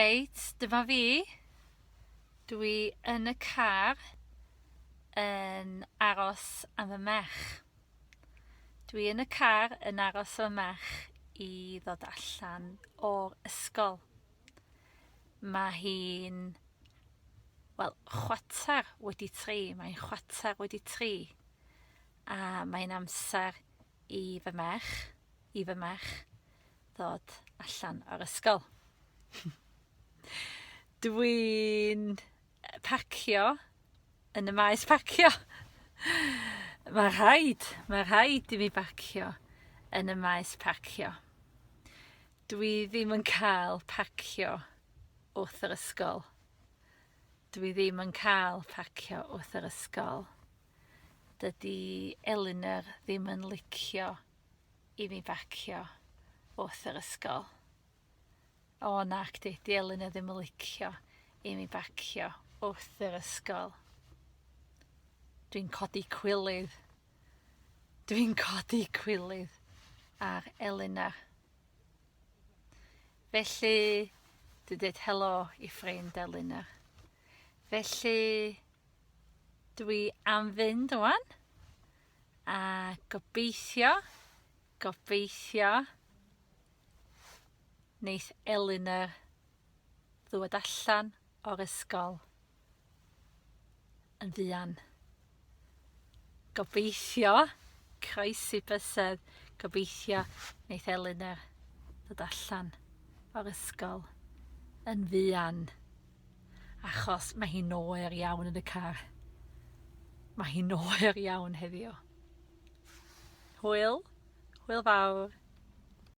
Reit, dyma fi. Dwi yn y car yn aros am fy merch. Dwi yn y car yn aros am fy merch i ddod allan o'r ysgol. Mae hi'n, wel, chwater wedi tri, mae'n chwater wedi tri, a mae'n amser i fy merch, i fy merch ddod allan o'r ysgol. Dwi'n parcio yn y maes parcio. Mae rhaid, mae rhaid i mi barcio yn y maes parcio. Dwi ddim yn cael parcio wrth yr ysgol. Dwi ddim yn cael parcio wrth yr ysgol. Dydy Elinor ddim yn licio i mi bacio wrth yr ysgol. O nac di, di Elinor ddim yn licio i mi bacio wrth yr ysgol. Dwi'n codi cwilydd. Dwi'n codi cwilydd ar Elinor. Felly, dwi dweud helo i ffrind Elinor. Felly, Dwi am fynd ŵan. A gobeithio, gobeithio neith Elina ddod allan o'r ysgol yn fuan. Gobeithio, croesi bysedd, gobeithio neith Elina ddod allan o'r ysgol yn fuan. achos mae hi'n oer iawn yn y car. Mae hi'n oer iawn heddiw. Hwyl, hwyl fawr.